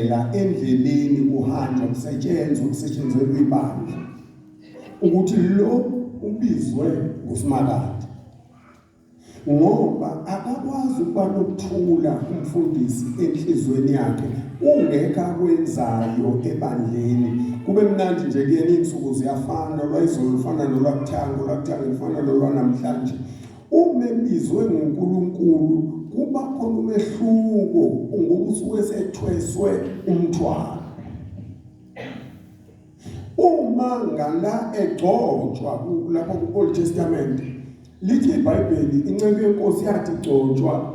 Phela endleleni kuhanjwa kusetshenzwa kusetshenzelwa ibandla ukuthi lo ubizwe ngusimakade ngoba akakwazi ukuba nokuthula umfundisi enhlizweni yakhe ungekho akwenzayo ebandleni kube mnandi nje kuyena iy'nsuku ziyafana lwayizolo lufana nolwakuthanga olwakuthanga lufana nolwanamhlanje Uma ebizwe nguNkulunkulu kuba khona umehluko ngoba usuke sethweswe umthwalo. Uma ngala egcotshwa lapha ku-Old Testament lithi iBhayibheli inceku yenkosi yathi igcotshwa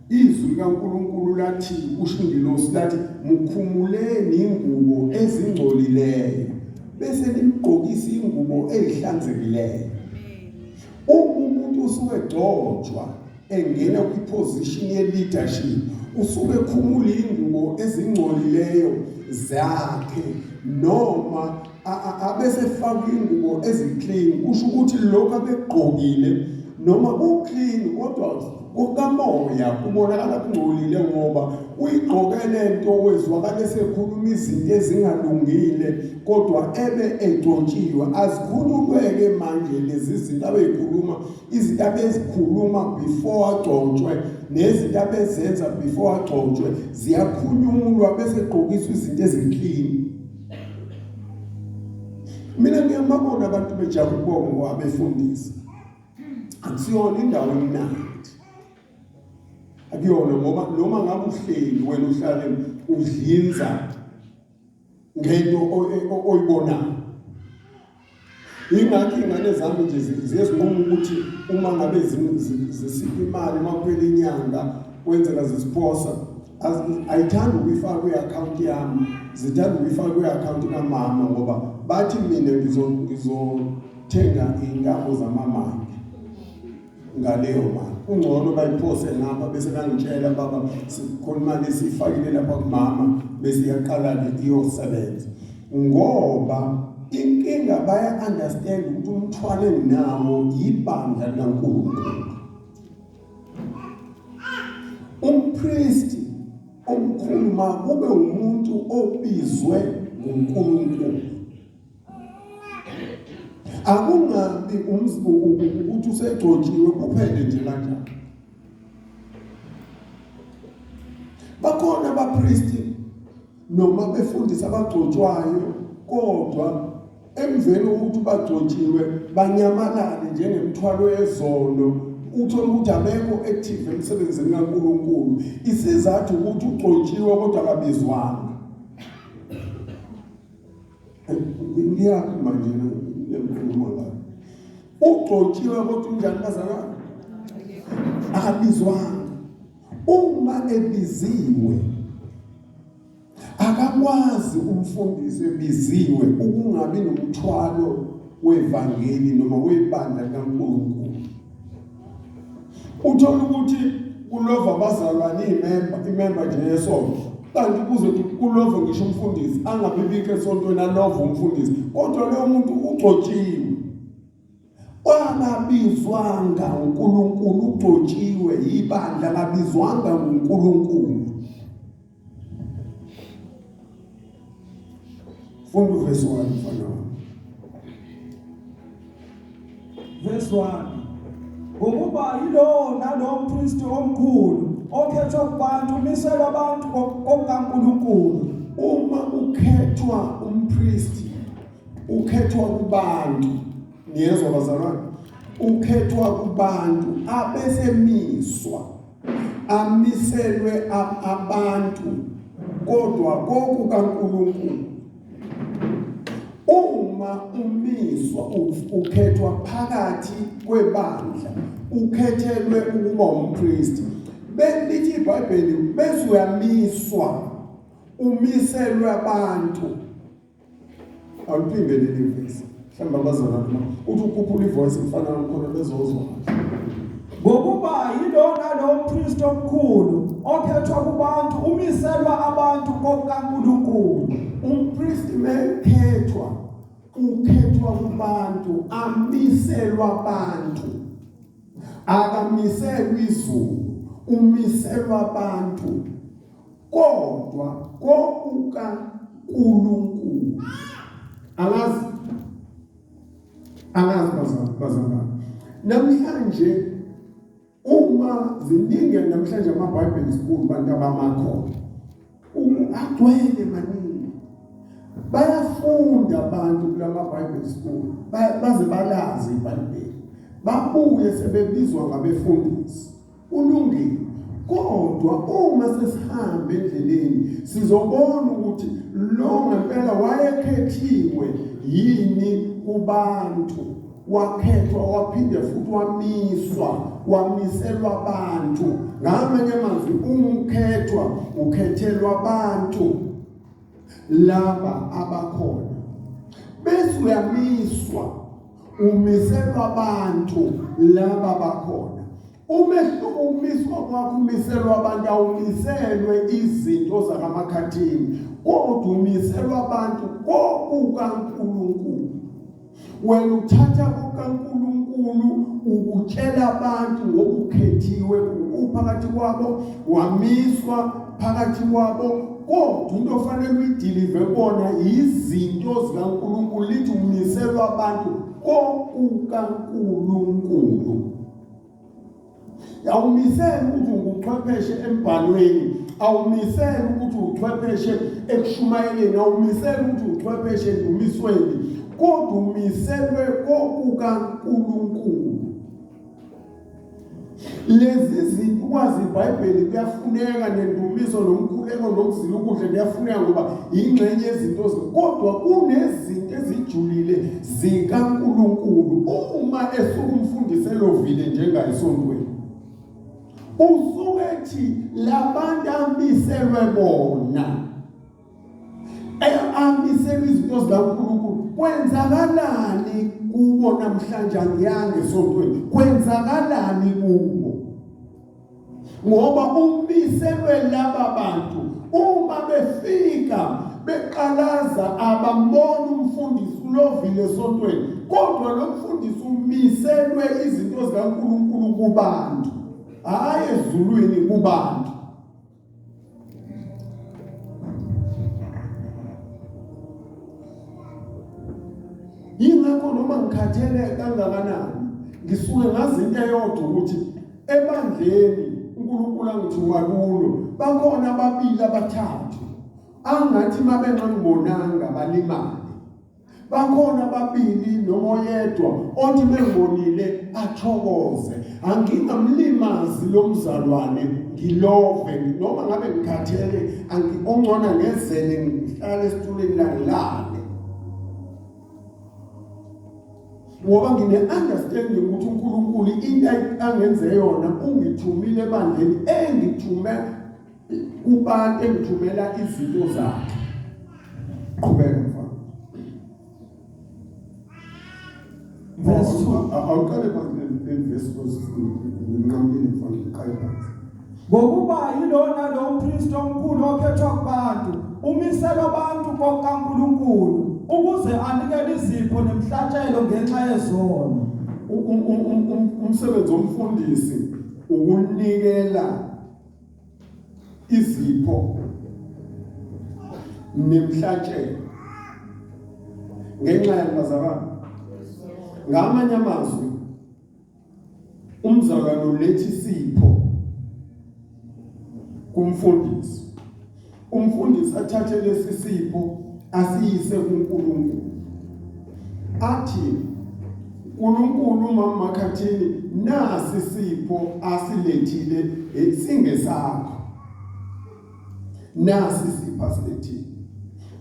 izwi likaNkulunkulu lathi ushingilosi lathi mukhumuleni ingubo ezingcolileyo bese nimgqokisa ingubo ezihlanzekileyo Uma umuntu usuke egcotshwa engena kwiposition ye-leadership usuke ekhumula ingubo ezingcolileyo zakhe noma abesefaka ingubo eziclean kusho ukuthi lokho abegqokile noma kuclean kodwa kukamoya kubonakala kungcolile ngoba uyigqoke lento wezwakala esekhuluma izinto ezingalungile kodwa ebe egcotshiwe azikhulumeke manje lezi zinto abeyikhuluma izinto abezikhuluma before agcotshwe nezinto abezenza before agcotshwe ziyakhulunywa bese egqokiswa izinto ezinclean mina ngiyamabona abantu bejabula ukubonga abefundisi akusiyona indawo emnandi akuyona ngoba noma ngabe uhleli wena uhlale udlinza ngento oyibonayo ingakho ingane zami nje ziyezinquma ukuthi uma ngabe zisipha imali uma kuphela inyanga kwenzeka zisiphosa ayithanda ukuyifaka kwi-akhawunti yami zithanda ukuyifaka kwi-akhawunti kamama ngoba bathi mina ngizothenga iy'ntambo zamamange ngaleyo mali kungcono bayiphose ngapha bese bangitshela baba sikhona imali esiyifakile lapha kumama bese iyaqala-ke iyosebenza ngoba inkinga baya-understand ukuthi umthwalo enginawo yibandla likankulunkulu umpristi omkhulu makube umuntu obizwe nguNkulunkulu akungabi umzibuku ukuthi usegcotshiwe kuphele nje kanjalo bakhona abapristi noma befundisa abagcotshwayo kodwa emveni kokuthi bagcotshiwe banyamalale njengemthwalo yezono uthole ukuthi abekho active emsebenzini kaNkuluNkulu isizathu ukuthi ugcotshiwe kodwa akabizwanga ngiyaphi manje lenkulumo la ugcotshiwe kodwa unjani bazalwane akabizwanga Uma ebiziwe akakwazi umfundisi ebiziwe ukungabi nomthwalo wevangeli noma webandla likaNkulunkulu. Uthola ukuthi kulova abazalwane imemba imemba nje yesonto kanti kuze kulova ngisho umfundisi angabibikho esontweni alova umfundisi kodwa lowo muntu ugcotshiwe Kwababizwanga uNkulunkulu ugcotshiwe yibandla kabizwanga uNkulunkulu. Funda uvesi 1 mfana wami. Verse 1 Ngokuba yilowo nalowo mpristi omkhulu okhethwa kubantu umiselwa abantu kokukaNkulunkulu uma ukhethwa umpristi ukhethwa kubantu niyezwa bazalwane ukhethwa kubantu abesemiswa amiselwe abantu kodwa kokukaNkulunkulu uma umiswa ukhethwa phakathi kwebandla ukhethelwe ukuba umpristi belithi iBhayibheli bese uyamiswa umiselwe abantu awuphinde leli vesi mhlawumbe abazalwa noma uthi ukhuphula ivoice mfana wakhona bezozwa ngokuba yilona lo mpristi omkhulu okhethwa kubantu umiselwa abantu kokaNkulunkulu umpristi mekhethwa ukhethwa kubantu amiselwa abantu akamiselwa izulu umiselwa abantu kodwa kokuka Nkulunkulu alazi alazi bazalwane namhlanje uma ziningi namhlanje ama-bible school bantu abamakhona agcwele maningi bayafunda abantu kula ma-bible school baze balazi ibhayibheli babuye sebebizwa ngabefundisi Kulungile. Kodwa uma sesihamba endleleni sizobona ukuthi lo ngempela wayekhethiwe yini kubantu wakhethwa waphinde futhi wamiswa wamiselwa abantu ngamanye amazwi umkhethwa ukhethelwa abantu laba abakhona bese uyamiswa umiselwa abantu laba bakhona umehluko umiswa kwakho umiselwa abantu awumiselwe izinto zakamakhathini kodwa umiselwa abantu kokukaNkulunkulu wena uthatha kukaNkulunkulu ukutshela abantu ngokukhethiwe uphakathi kwabo wamiswa phakathi kwabo kodwa into ofanele uyidilive kona yizinto zikaNkulunkulu lithi umiselwa abantu kokukaNkulunkulu awumisele ukuthi unguchwepheshe embhalweni awumisele ukuthi uchwepheshe ekushumayeleni awumisele ukuthi uchwepheshe endumisweni kodwa umiselwe kokukaNkulunkulu lezi zinto ukwazi ibhayibheli kuyafuneka nendumiso nomkhuleko nokuzila ukudla kuyafuneka ngoba yingxenye yezinto kodwa kunezinto ezijulile zikaNkulunkulu uma esukumfundisa elovile njengayisontweni usuke ethi labantu amiselwe bona amiselwe izinto zikaNkulunkulu kwenzakalani kubo namhlanje angiyange esontweni kwenzakalani kubo ngoba umiselwe laba bantu uma befika beqalaza abamboni umfundisi ulovile esontweni kodwa lo mfundisi umiselwe izinto zikaNkulunkulu kubantu hhayi ezulwini kubantu yingakho noma ngikhathele kangakanani ngisuke ngazi into eyodwa ukuthi ebandleni uNkulunkulu angithuma kulo bakhona ababili abathathu angathi mabenqambonanga balimale bakhona babili noma oyedwa othi bembonile athokoze angingamlimazi lo mzalwane ngilove noma ngabe ngikhathele angikongcona ngezele ngihlale esitulweni langilale ngoba ngine-understanding ukuthi unkulunkulu into angenze yona ungithumile ebandleni engithume kubantu engithumela izinto zakhe qhubeka mfana verse 2 awuqale phansi ngeverse nginqamile mfana ngiqale phansi ngokuba yilona lo mpristi omkhulu okhethwa kubantu umisela abantu kokaNkuluNkulu ukuze anikele izipho nemhlatshelo ngenxa yezono umsebenzi omfundisi ukunikela izipho nemhlatshelo ngenxa yabazalwane ngamanye amazwi umzalwane uletha isipho kumfundisi Umfundisi athathe lesi sipho asiyise kuNkulunkulu. Athi uNkulunkulu uMama Makhathini nasi sipho asilethile eh, singesakho. Nasi sipho asilethile.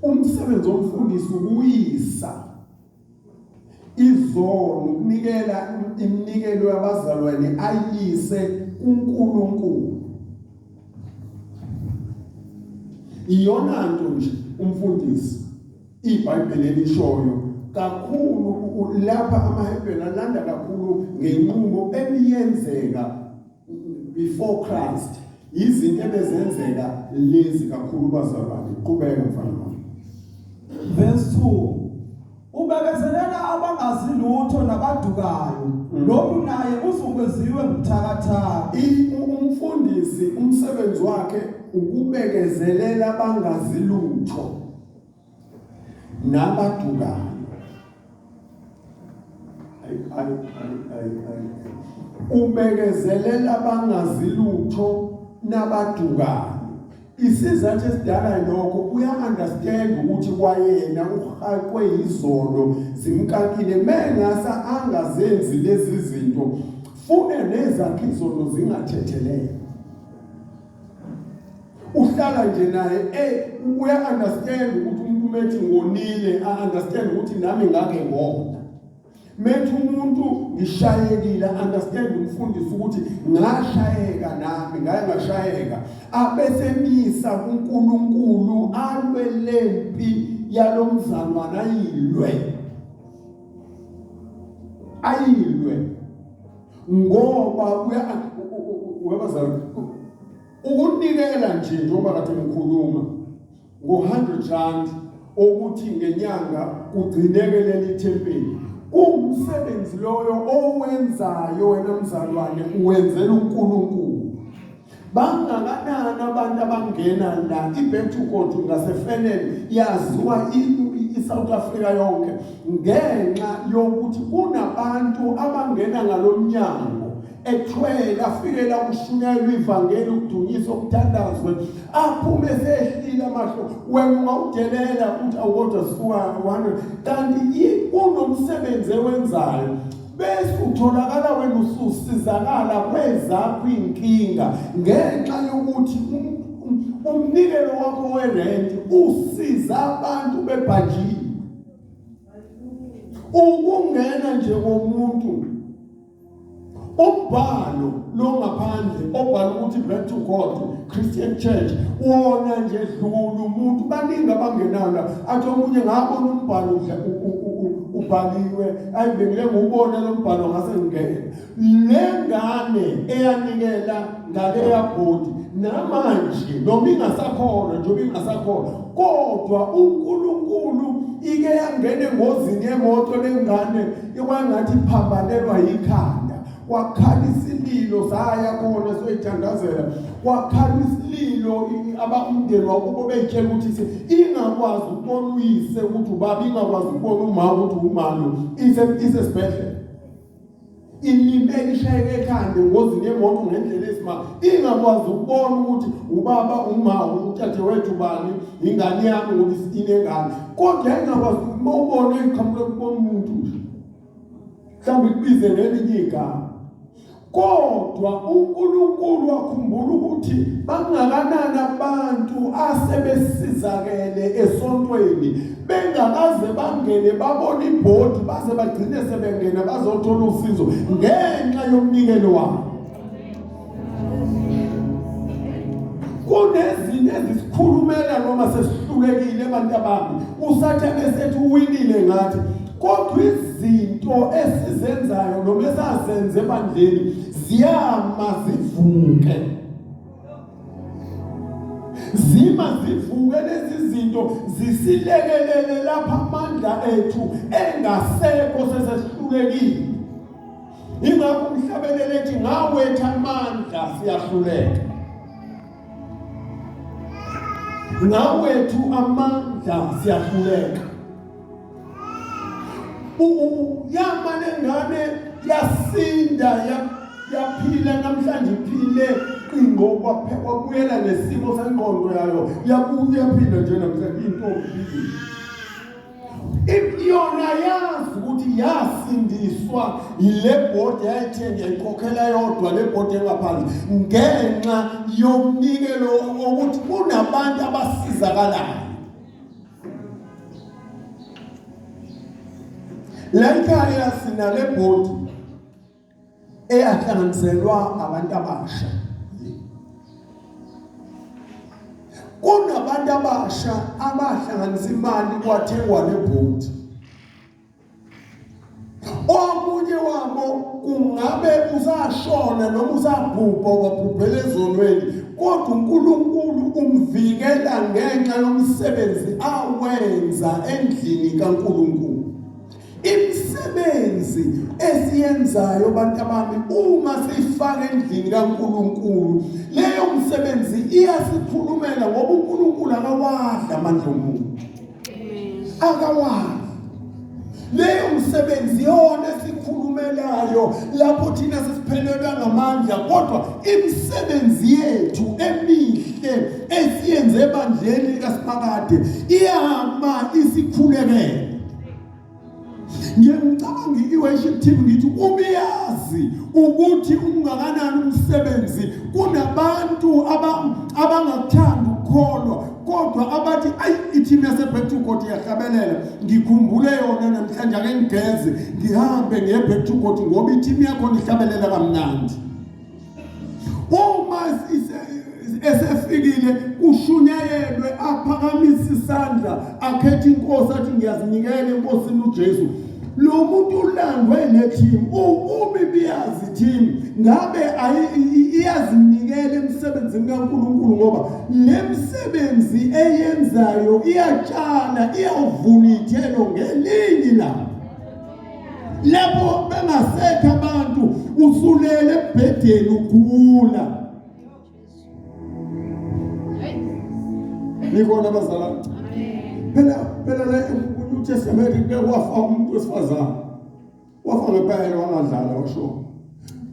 Umsebenzi womfundisi ukuyisa Izolo ukunikela iminikelo yabazalwane ayise kuNkulunkulu. Iyona nto nje umfundisi iBhayibheli elishoyo kakhulu lapha amaHebheru alanda kakhulu ngenqubo ebiyenzeka before Christ izinto ebezenzeka lezi kakhulu bazalwane qhubeka mfana wami verse 2 ubekezelela abangazi lutho nabadukayo mm. lokhu naye uzungweziwe ngumthakathaka umfundisi umsebenzi wakhe ukubekezelela abangazi lutho nabadukayo ubekezelela bangazi lutho nabadukayo isizathu esidala lokho uya-understand ukuthi kwayena uhaqwe yizono zimkakile mengasa angazenzi lezi zinto fune nezakhe izono zingathethelele uhlala nje naye eh uya understand ukuthi umuntu methi ngonile a understand ukuthi nami ngake ngona methi umuntu ngishayekile understand umfundisi ukuthi ngashayeka nami ngaye ngashayeka abesemisa kuNkulunkulu alwe lempi yalomzalwana ayilwe ayilwe ngoba uyabazali ukunikela nje njengoba kade ngikhuluma ngo-100 rand okuthi ngenyanga kugcineke leli thempeli kuwumsebenzi loyo owenzayo wena mzalwane uwenzela uNkulunkulu bangakanani abantu abangena la ibhethukodu ngasefenele yaziwa i-south africa yonke ngenxa yokuthi kunabantu abangena ngalo mnyango ethwele afikela ukushunyayela ivangeli ukudunyisa ukuthandazwe aphume sehlile amahlo wena ungawudelela ukuthi awukodwa suka 100 kanti kunomsebenzi ewenzayo bese utholakala wena ususizakala kwezakho inkinga ngenxa yokuthi umnikelo wakho werenti usiza abantu bebhajile ukungena nje komuntu umbhalo longaphandle obhala ukuthi back to God Christian Church wona nje dlulu umuntu baningi abangenanga athi omunye ngabona umbhalo ubhaliwe ayibekile ngubona lo mbhalo ngase ngingene le ngane eyanikela ngale yabhodi namanje noma ingasakhona njengoba ingasakhona kodwa uNkulunkulu ike yangena engozini yemoto lengane ikwangathi iphambanelwa yikhanda kwakhala isililo saya kona soyithandazela kwakhala isililo abamndeni wakubo beyitshela ukuthi ingakwazi ukubona uyise ukuthi ubaba ingakwazi ukubona umama ukuthi umama isesibhedlela ilime ishayeke ekhanda engozini yemoto ngendlela esimanga ingakwazi ukubona ukuthi ubaba umama uthathe wethu bani ingane yami ngoba inengane kodwa ingakwazi uma ubona iqhamuke kubona umuntu nje mhlawumbe kubize ngelinye igama kodwa uNkulunkulu wakhumbula ukuthi bangakanani abantu asebesizakele esontweni bengakaze bangene babone ibhodi baze bagcine sebengena bazothola usizo ngenxa yomnikelo wabo kunezinto ezisikhulumela noma sesihlulekile ebantabami usathane esethi uwinile ngathi kodwa izinto esizenzayo noma esazenze ebandleni ziyama zivuke zima zivuke lezi zinto zisilekelele lapha amandla ethu engasekho sesesihlulekile ingakho umhlabelele ethi ngawetha amandla siyahluleka ngawethu amandla siyahluleka uyama lengane yasinda yaphila namhlanje iphile qingo kwaphekwa kuyela nesimo sengqondo yayo yabuya phila nje namhlanje intombi iyona yazi ukuthi yasindiswa yile bhodi yayithenge yayikhokhela yodwa le bhodi engaphandle ngenxa yomnikelo wokuthi kunabantu abasizakalayo le nkayasinale bhodi eyahlanganiselwa abantu abasha kunabantu abasha abahlanganisa imali kwathengwa lebhodi omunye wabo kungabe usashona noma usabhubha wabhubhela ezonweni kodwa uNkulunkulu umvikela ngenxa yomsebenzi awenza endlini kaNkulunkulu imisebenzi esiyenzayo bantabami uma siyifaka endlini kaNkuluNkulu leyo msebenzi iyasikhulumela ngoba uNkuluNkulu akawadla amandla omuntu akawadla leyo msebenzi yona esikhulumelayo lapho thina sesiphelelwa ngamandla kodwa imisebenzi yethu emihle esiyenze ebandleni likaSiphakade iyama isikhulekele nje ngicabanga i-worship team ngithi ubiyazi ukuthi ungakanani umsebenzi kunabantu abangakuthandi ukukholwa kodwa abathi ayi i-team yase-back to god iyahlabelela ngikhumbule yona namhlanje ake ngigeze ngihambe ngiye-back to god ngoba i-team yakhona ihlabelela kamnandi uma esefikile kushunyayelwe aphakamisa isandla akhetha inkosi athi ngiyazinikela enkosini uJesu lo muntu ulandwe neteam ubi biyazi team ngabe iyazinikela emsebenzini kaNkuluNkulu ngoba lemsebenzi eyenzayo iyatshala iyavuna ithelo ngelingi lami lapho bengasekho abantu usulele ebhedeni ugula nikona bazala phela phela la uNew Testament kwafa umuntu wesifazane wafa ngempela wangadlala washo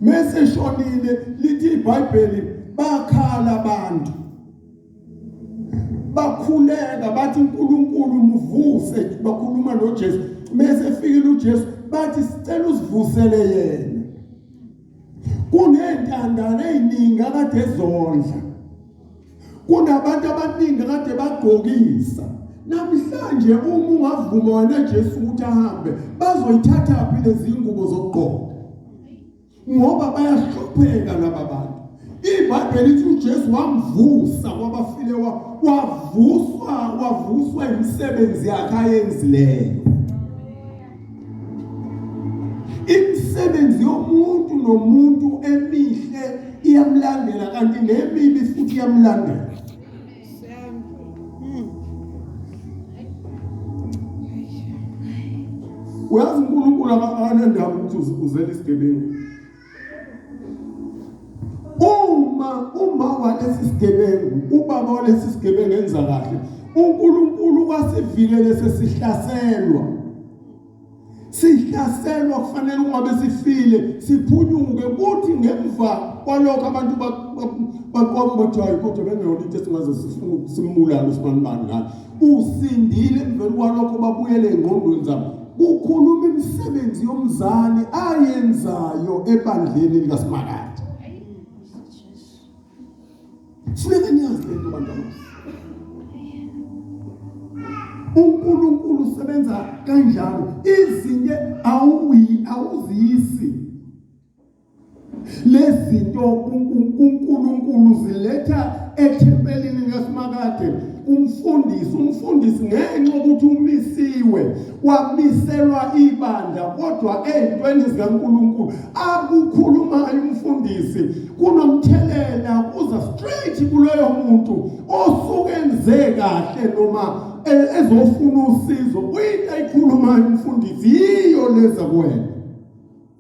mese shonile lithi iBhayibheli bakhala abantu bakhuleka bathi uNkulunkulu muvuse bakhuluma noJesu mase fikile uJesu bathi sicela usivusele yena kunentandane eziningi akade ezondla kunabantu abaningi kade bagqokisa namhlanje uma ungavuma wena Jesu ukuthi ahambe bazoyithatha phi lezi ngubo zokugqoka ngoba bayahlupheka laba bantu ibhayibheli lithi uJesu wamvusa kwabafile wavuswa wavuswa imisebenzi yakhe ayenzileyo imisebenzi yomuntu nomuntu emihle iyamlandela kanti nemibi futhi iyamlandela uyazi unkulunkulu anendaba ukuthi uzela isigebengu uma uma walesi sigebengu ubaba walesi sigebengu enza kahle unkulunkulu kwasivile lesesihlaselwa sihlaselwa kufanele uma besifile siphunyuke kuthi ngemva kwalokho abantu baqoma bathi hayi kodwa bengeyona into esingaze simbulale usibanibani ngayo usindile emveni kwalokho babuyele engqondweni zabo kukhuluma imisebenzi yomzali ayenzayo ebandleni likaSimakade funeka niyazi le nto bantwana unkulunkulu usebenza kanjalo izinto awuziyisi lezinto uNkulunkulu ziletha ethempelini lesimakade umfundisi umfundisi ngenxa ukuthi umisiwe kwamiselwa ibandla kodwa ezintweni zikaNkuluNkulu akukhulumayo umfundisi kunomthelela kuza straight kuloyo muntu osuke enze kahle noma e- ezofuna usizo uyinto ayikhulumayo umfundisi yiyo leza kuwena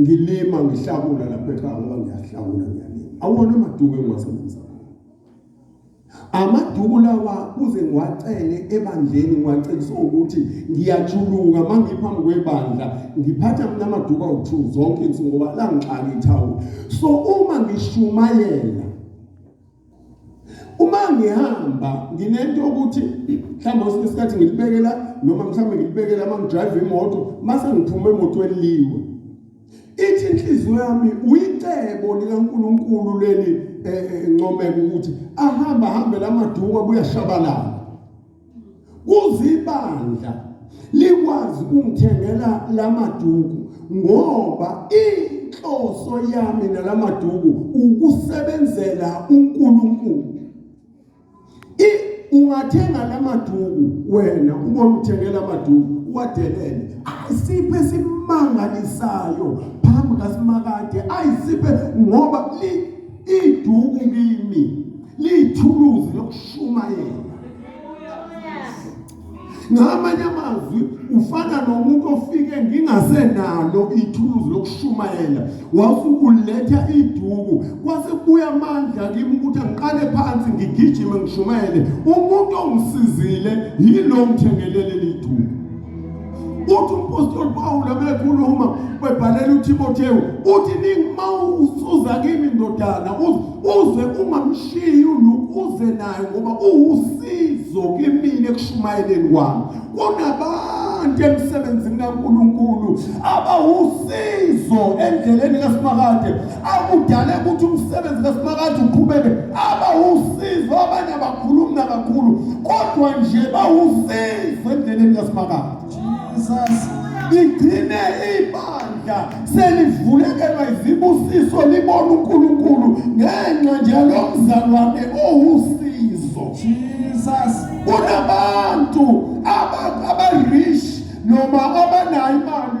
ngilima ngihlakula lapha ekhaya ngoba ngiyahlakula ngiyalima awona amaduku engiwasebenzisa amaduku lawa kuze ngiwacele ebandleni ngiwacebisa ukuthi ngiyajuluka uma ngiphambi kwebandla ngiphatha mina amaduku awu-two zonke insuku ngoba langixaka ithawula so uma ngishumayela uma ngihamba nginento ukuthi mhlawumbe kwesinye isikhathi ngilibekela noma mhlawumbe ngilibekela uma ngidrive imoto mase ngiphume emotweni liwe ithi inhliziyo yami uyicebo likaNkuluNkulu leli eh, eh, ncomeka ukuthi ahamba hambe lamaduka kuyashabalala kuzibandla likwazi ukungithengela lamaduku ngoba inhloso yami nalamaduku ukusebenzela uNkulunkulu ungathenga lamaduku wena uma uthengela amaduku wadelele ayisiphe esimangalisayo phambi kaSimakade ayisiphe ngoba Iduku kimi liyithuluzi lokushumayela. Ngamanye amazwi ufana nomuntu ofike ngingasenalo ithuluzi lokushumayela wasukuletha iduku kwase kubuya amandla kimi ukuthi angiqale phansi ngigijime ngishumayele umuntu ongisizile yilo ngithengelele liduku uthi umpostoli pawula mekhuluma webhalela utimotewu uthi ningima usuza kimi ndodana uze ungamshiyi uze naye ngoba uwusizo kimina ekushumayeleni kwami kunabantu emsebenzini kankulunkulu abawusizo endleleni kasimakahle akudale ukuthi umsebenzi kaSimakade uqhubeke aba usizo abanye abakhulumi nakakhulu kodwa nje bawusizo endleleni kaSimakade Jesus igcine ibandla selivulekelwa izibusiso libona uNkulunkulu ngenxa nje yalomzalwane owusizo Jesus kunabantu aba abarish noma abanayo imali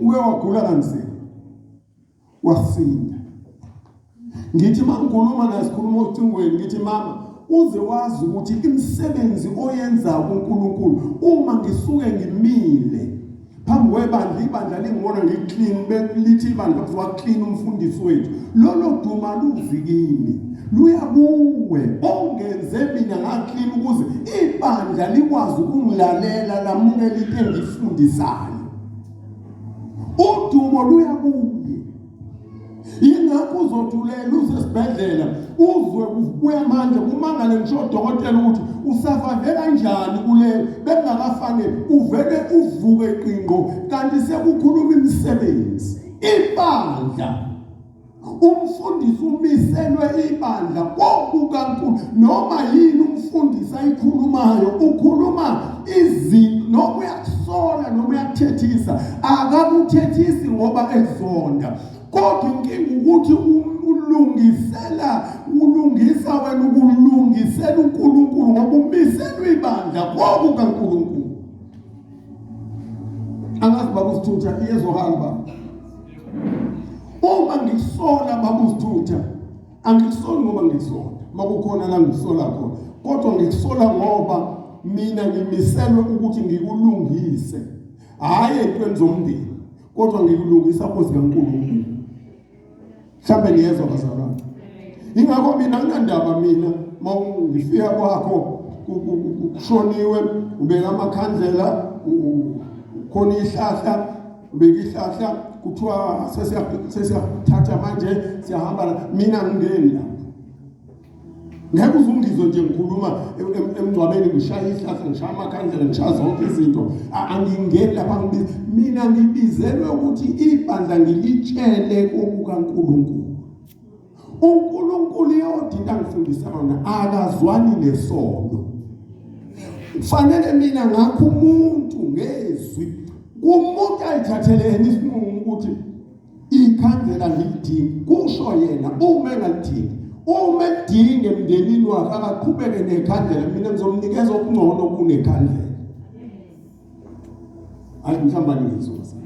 uke wagula kanzima wasinda ngithi mangikhuluma naye sikhuluma ocingweni ngithi mama uze wazi ukuthi imisebenzi oyenza kuNkulunkulu uma ngisuke ngimile phambi kwebandla ibandla lingibona ngiclean belithi ibandla kuthiwa clean umfundisi wethu lolo duma luzi kimi luya kuwe ongenze mina ngaclean ukuze ibandla likwazi ukungilalela lamukela into engifundisayo udumo luya kuye yingakho uzothulela usesibhedlela uzwe kuya manje kumangale ngisho odokotela ukuthi usavave kanjani kule bekungakafane uvele uvuke qingo kanti sekukhuluma imisebenzi ibandla umfundisi umiselwe ibandla kokukankulu noma yini umfundisi ayikhulumayo ukhuluma izinto noma uyakusola noma uyakuthethisa akakuthethisi ngoba ekuzonda kodwa inkinga ukuthi ulungisela ulungisa wena ukulungisela uNkulunkulu ngoba umiselwe ibandla kokukaNkulunkulu angazi babuzithutha iyezwakala ba uma ngisola babuzithutha angikusoli ngoba ngisola makukhona la ngisola khona kodwa ngikusola ngoba mina ngimiselwe ukuthi ngikulungise hhayi entweni zomndeni kodwa ngikulungisa kozi kaNkulunkulu mhlawumbe niyezwa bazalwane ingakho mina kunandaba mina uma ngifika kwakho kushoniwe ubeka amakhandlela khona ihlahla ubeka ihlahla kuthiwa sesiyathatha manje siyahamba mina ngingeni lapho ngeke uzungizwe nje ngikhuluma emngcwabeni ngishaya ihlahla ngishaya amakhandlela ngishaya zonke izinto angingeni lapha ngibiza mina ngibizelwe ukuthi ibandla ngilitshele kokukaNkulunkulu uNkulunkulu yodinda ngifundisa wona akazwani nesono kufanele mina ngakho umuntu ngezwi kumuntu ayithathele yena isinqumo ukuthi ikhandlela ngilidingi kusho yena uma engalidingi uma edinge emndenini wakhe akaqhubeke nekhandlela mina ngizomnikeza okungcono kunekhandlela ayi mhlawumbe angizoza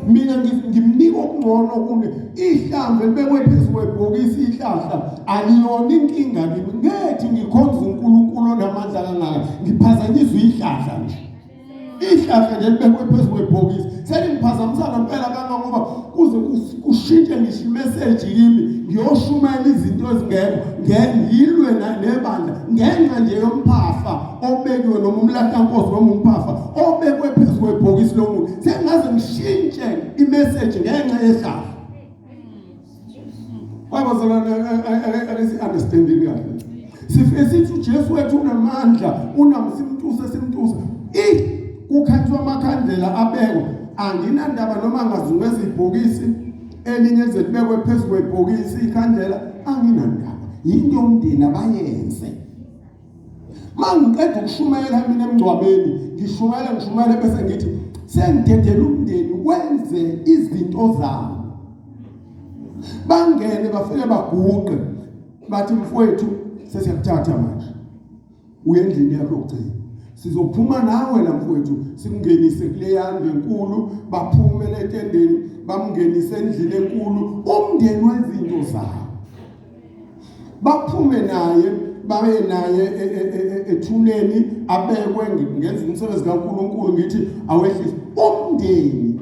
mina ngimnika okungcono kune ihlambe libekwe phezu kwebhokisi ihlahla aliyona inkinga kimi ngethi ngikhonza uNkulunkulu onamandla kangaka ngiphazanyiswa ihlahla nje ihlahle nje libekwe phezu kwebhokisi selingiphazamisa ngempela kangangoba kuze kushintshe ngisho imeseji kimi ngiyoshumayela izinto ezingekho ngengilwe nebandla ngenxa nje yomphafa obekiwe noma umlatankosi noma umphafa obekwe phezu kwebhokisi lomuntu sengaze ngishintshe imeseji ngenxa yehlahle Abazalwane akesi-understandini kahle. Sifike sithi uJesu wethu unamandla, unamsimtusa simtusa. I kukhathwa amakhandlela abekwa anginandaba noma ngazungwe izibhokisi elinye lize libekwe phezu kwebhokisi ikhandlela anginandaba. Yinto umndeni abayenze. mangiqeda ukushumayela mina emngcwabeni ngishumayela ngishumayela bese ngithi sengidedela umndeni wenze izinto zawo bangene bafike baguqe bathi mfowethu sesiyakuthatha manje uye endlini yakho yokugcina sizophuma nawe la mfowethu sikungenise kule yandlu enkulu baphume letendeni bamngenise endlini enkulu umndeni wezinto zawo baphume naye baye naye e, e, e, ethuneni abekwe ngenza umsebenzi kaNkuluNkulu ngithi awehlise umndeni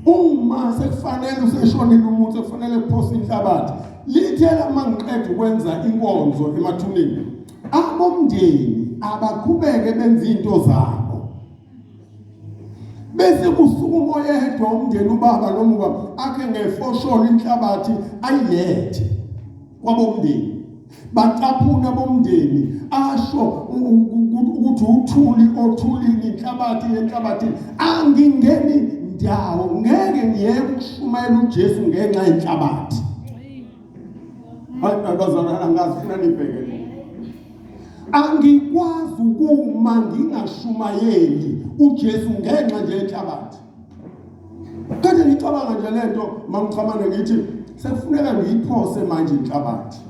uma sekufanele useshonile umuntu sekufanele kuphosa inhlabathi lithela uma ngiqeda ukwenza inkonzo emathuneni abomndeni abaqhubeke benza into zabo bese kusuka umoya ehedwa umndeni ubaba nomuka akhe ngefosholo inhlabathi ayilethe kwabomndeni bacaphuna bomndeni asho ukuthi uthuli othulini inhlabathi yenhlabathi angingeni ndawo ngeke ngiyeke ukushumayela uJesu ngenxa yenhlabathi hayi bazalwana ngazifuna nibhekele angikwazi ukuma ngingashumayeli uJesu ngenxa nje yenhlabathi kade ngicabanga nje lento mangichamane ngithi sekufuneka ngiyiphose manje inhlabathi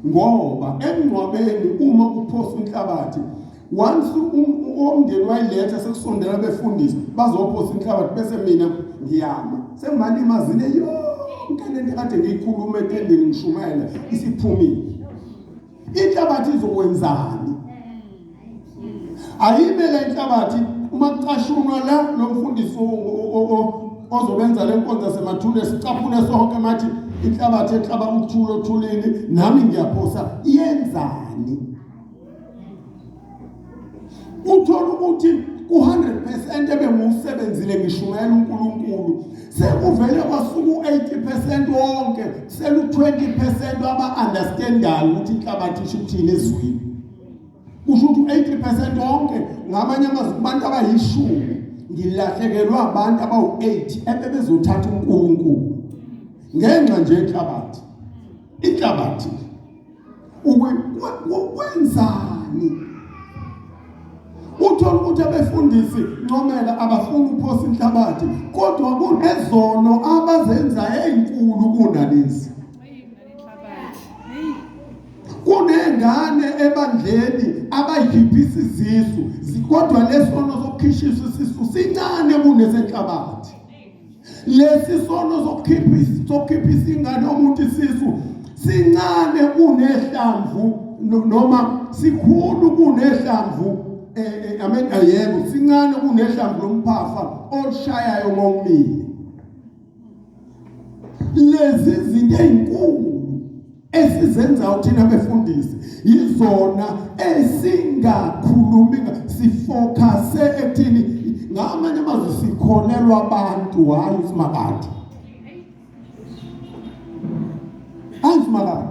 ngoba emngcwabeni uma uphosa inhlabathi once umndeni wayiletha sekusondela befundisi bazophosa inhlabathi bese mina ngiyama sengimalimazile yonke lento kade ngiyikhuluma etendeni ngishumayela isiphumile inhlabathi izokwenzani ayime le nhlabathi uma kucashunwa la lo mfundisi ozobenza le nkonzo semathule sicaphune sonke mathi inhlabathi ehlaba uthula othulini nami ngiyaphosa iyenzani uthola ukuthi u-100% ebengiwusebenzile ngishumayela uNkulunkulu sekuvele kwasuka u-80% wonke selu-20% aba-understandayo ukuthi inhlabathi isho ukuthini ezweni kusho ukuthi u-80% wonke ngamanye amazwi kubantu abayishumi ngilahlekelwa abantu abawu-8 ebebezothatha uNkulunkulu ngenxa nje inhlabathi inhlabathi ukwenzani uthola ukuthi abefundisi ncomela abafuni ukuphosa inhlabathi kodwa kunezono abazenza ezinkulu kunalezi kunengane ebandleni abayiphiphisa izisu kodwa lesono sokukhishisa isisu sincane kunesenhlabathi lesi sono sokukhipha isingane omuntu isisu sincane kunehlamvu noma sikhulu kunehlamvu eh, eh, amen ayebo sincane kunehlamvu lomphafa olushayayo ngomile lezi zinto ezinkulu esizenzayo thina befundisi yizona esingakhulumi sifocuse ekuthini ngamanye amazwi sikholelwa abantu hhayi usimakade hayi usimakade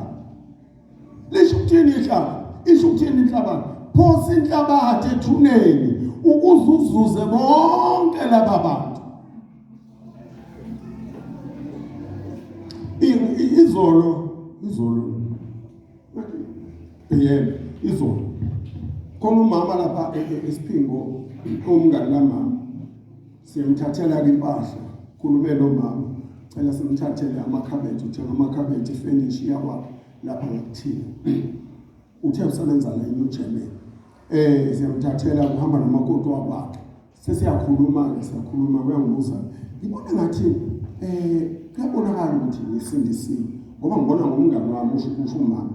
lisho ukuthini inhlaba isho ukuthini inhlabathi phosa inhlabathi ethuneni ukuze uzuze bonke laba bantu izolo izolo PM izolo khona umama lapha e, e, esiphingo umngani kamama siyamthathela ke impahla khulume nomama cela simthathele amakhabethe uthenga amakhabethe ifenishi yakwa lapha ngakuthina uthe usebenza la eNew Germany eh siyamthathela uhamba nomakoti wakwakhe sesiyakhuluma-ke siyakhuluma kuyangibuza ngibona ngathi um kuyabonakala ukuthi ngisindisiwe ngoba ngibona ngomngane wami usho usho umama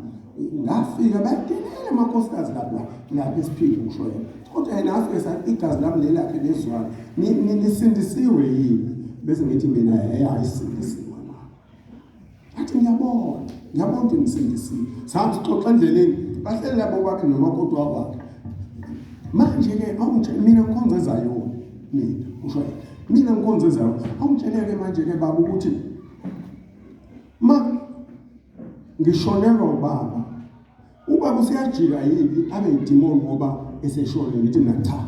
ngafika badelela amakhosikazi lapha lapha esiphinde usho yena kodwa yena afike sathi igazi lami lelakhe lezwana nisindisiwe yini bese ngithi mina hhe ayisindisiwe athi ngiyabona ngiyabona ukuthi ngisindisiwe sahambe sixoxa endleleni bahleli labo bakhe nomakoti wakwakhe manje-ke awungitshele mina ngikhonza ezayona mina usho mina ngikhonza ezayona awungitshele-ke manje-ke baba ukuthi ma ngishonelwa ubaba ubaba useyajika yini abe yidimoni ngoba eseshonile ngithi mina cha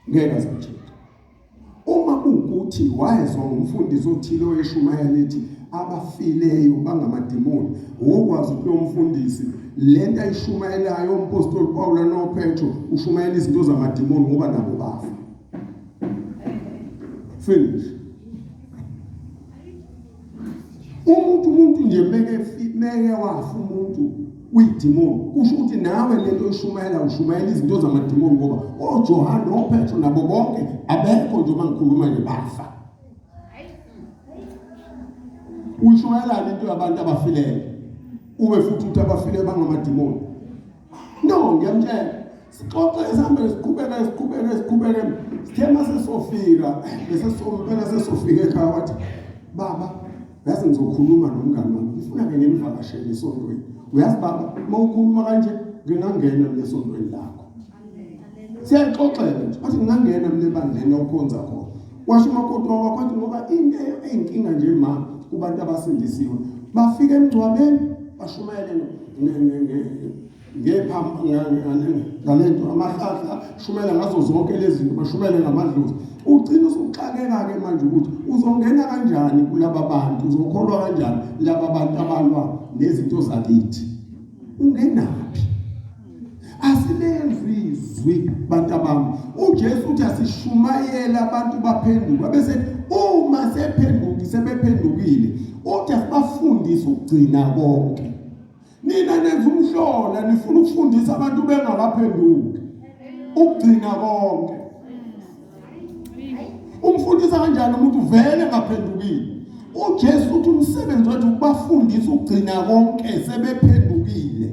ngeke azitshintshe uma kuwukuthi wayezwa ngumfundisi othile oyeshumayela ethi abafileyo bangamadimoni wokwazi ukuthi lo mfundisi le nto ayishumayelayo umpostoli pawula nopetro ushumayela izinto zamadimoni ngoba nabo bafa finish umuntu umuntu nje meke meke wafa umuntu uyidimoni kusho ukuthi nawe lento ushumayela ushumayela izinto zamadimoni ngoba oJohane oPetro nabo bonke abekho nje uma ngikhuluma nje bafa ushumayelani into yabantu abafileyo ube futhi uthi abafile bangamadimoni no ngiyamtshela sixoxe sihambele siqhubeke siqhubeke siqhubeke sithe mase sofika bese sompela sesofika ekhaya wathi baba yazi ngizokhuluma nomngane wami ngifuna ke ngenivakashele esontweni uyazi baba uma ukhuluma kanje ngingangena lesontweni lakho siyaxoxela nje wathi ngingangena mina ebandleni okhonza khona washo umakoti wakho wathi ngoba into eyinkinga nje ma kubantu abasindisiwe bafika emngcwabeni bashumayele ngalento amahlahla shumela ngazo zonke lezi zinto bashumele ngamadlozi ugcina usuxakeka-ke manje ukuthi uzongena kanjani kulaba bantu uzokholwa kanjani laba bantu abalwa nezinto zakithi ungenaphi asilezwi izwi bantu abami uJesu uthi asishumayele abantu baphenduka bese uma sephenduki sebephendukile uthi asibafundise ukugcina konke nina nenza umhlola nifuna ukufundisa abantu bengakaphenduki ukugcina konke umfundisa kanjani umuntu vele ngaphendukile uJesu uthi umsebenzi wethu ukubafundisa ukugcina konke sebephendukile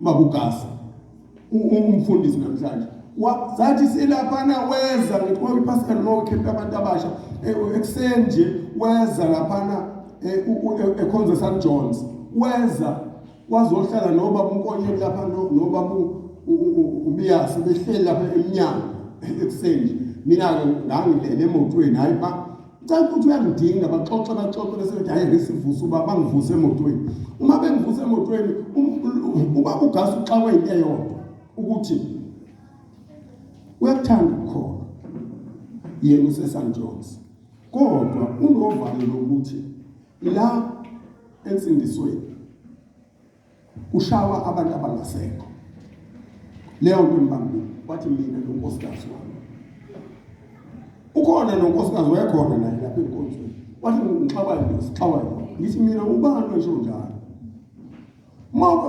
Baba uGasa umfundisi namhlanje wazathi silaphana weza ngithi kwa iPascal Mo camp abantu abasha eh, ekuseni nje weza laphana eh, e-, ekhonza St John's weza wazohlala noba umkonyeni lapha noba ubiyasi behleli lapha eminyango ekuseni mina ke ngangilele emotweni hayi ba Cela ukuthi uyangidinga baxoxe baxoxe bese bethi hayi ngisivuse uba bangivuse emotweni. Uma bengivuse emotweni um, uba ugasi uxakwe into eyodwa ukuthi uyakuthanda ukukhona yena usesan Jones kodwa unovalo lokuthi la ensindisweni kushawa abantu abangasekho leyo nto imbambile wathi mina nonkosikazi wami ukhona nonkosikazi wayekhona naye lapha enkonzweni wathi ngixawayo ngixawayo ngithi mina ubani esho njalo uma uke